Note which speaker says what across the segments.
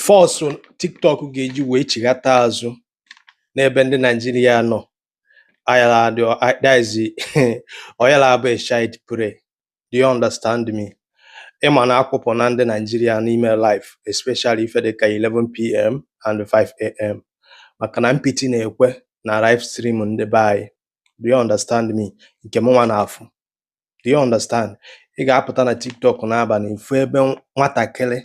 Speaker 1: force tiktok ga-eji wee chighata azụ n'ebe ndị naijiria nọ ayala adị easy ọ yala abụ child play do you understand me ịma na akwụpụna ndị naijiria n'ime live especially ife dị ka 11pm and 5am maka na mpịtị na-ekwe na live stream ndị be anyị do you understand me nke mụnwa na-afụ do you understand ị ga-apụta na tiktok n'abalị ịfụ ebe nwatakịrị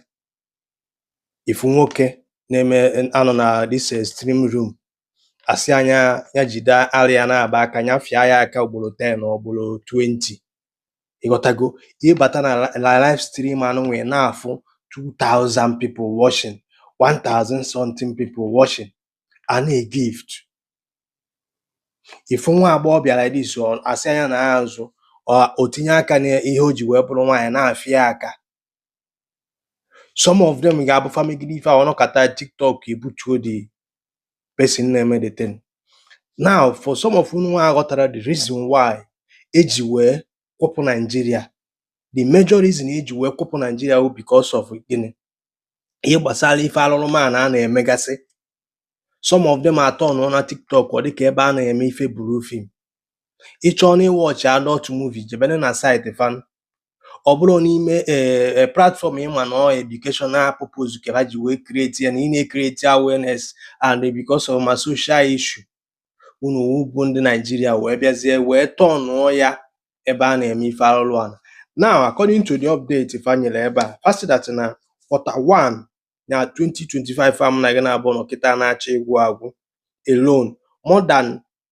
Speaker 1: ịfụ nwoke na-eme anọ na this stream room asị anya ya jide ara ya na-aba aka ya fịa ya aka ugboro 10 or ugboro 20 ịghọtago ịbata na live stream anụ nwee na-afụ 2000 people watching 1000 something people watching a na-egift ịfụ nwa agbọghọ bịara dis asị anya na ya azụ o tinye aka n'ihe o ji wee bụrụ nwaanyị na-afịa aka some of them ga-abụ fa megide ife ahụ ọnọkata tiktok ebutuo the person na-eme the thing now for some of ununwa aghọtara the reason why eji wee kwụpụ naijiria the major reason eji wee kwụpụ naijiria bụ because of gịnị ihe gbasara ife alụrụ ana a na-emegasị some of them atọnụna tiktok ọ dịka ebe a na-eme ife blue film ịchọọ na ịwọchị adult movie jebenụ na site fan ọ bụrọ n'ime ee eh, eh, platfọm ịma na educational purpose ka ha ji wee create ya na ị na-ekreti awareness and because of ma social issue unu bụ ndị Naijiria wee bịazie wee tọnụọ ya ebe a na-eme ife alụrụ ana now according to the update fa nyere ebe a fa sị that na quarter one na 2025 a mụ na gị naabụọ nọ kịta na-achọ ịgwụ agwụ alone more than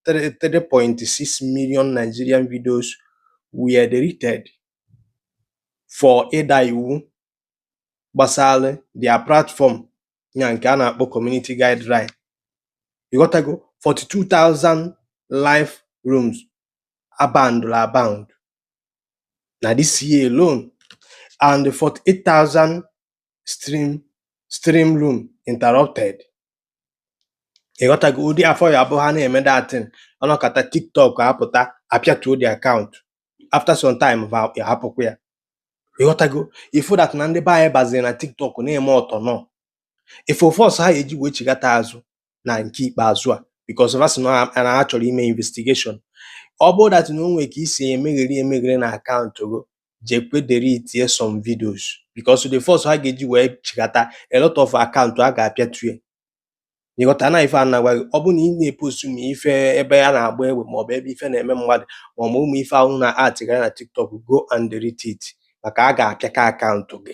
Speaker 1: 3.6 million Nigerian videos were deleted for ịda iwu gbasara their platform ya nke a na-akpọ community guideline ịghọtago 42,000 live rooms abandoned abound na this year alone and 48,000 stream stream room interrupted ịghọtago ụdị ife ọ ya-abụ ha na-eme that thing ọnọkata tiktok apụta apịatuo the akaụntụ after some time va hapụkwa ya ịghọtago ịfụ that na ndị be anyị baziri na tiktok na-eme ọtọ nọ ịfụ force ha eji wee chighata azụ na nke ikpeazụ a because va sị na ha na ha chọrọ ime investigation ọ bụrụ that na o nwere ka i si emegheri emegheri na akaụntụ gị jekwe deletie some videos because the force ha ga-eji wee chighata a lot of akaụntụ a ga-apịatu ya ịghọta na ife a na-agwa gị ọ bụ na ị na-epostu ma ife ebe a na-agba egbe maọbụ ebe ife na-eme mmadụ maọbụ ụmụ ife ahụ na atịgara na tiktok go and delete it maka a ga-apịaka akaụntụ gị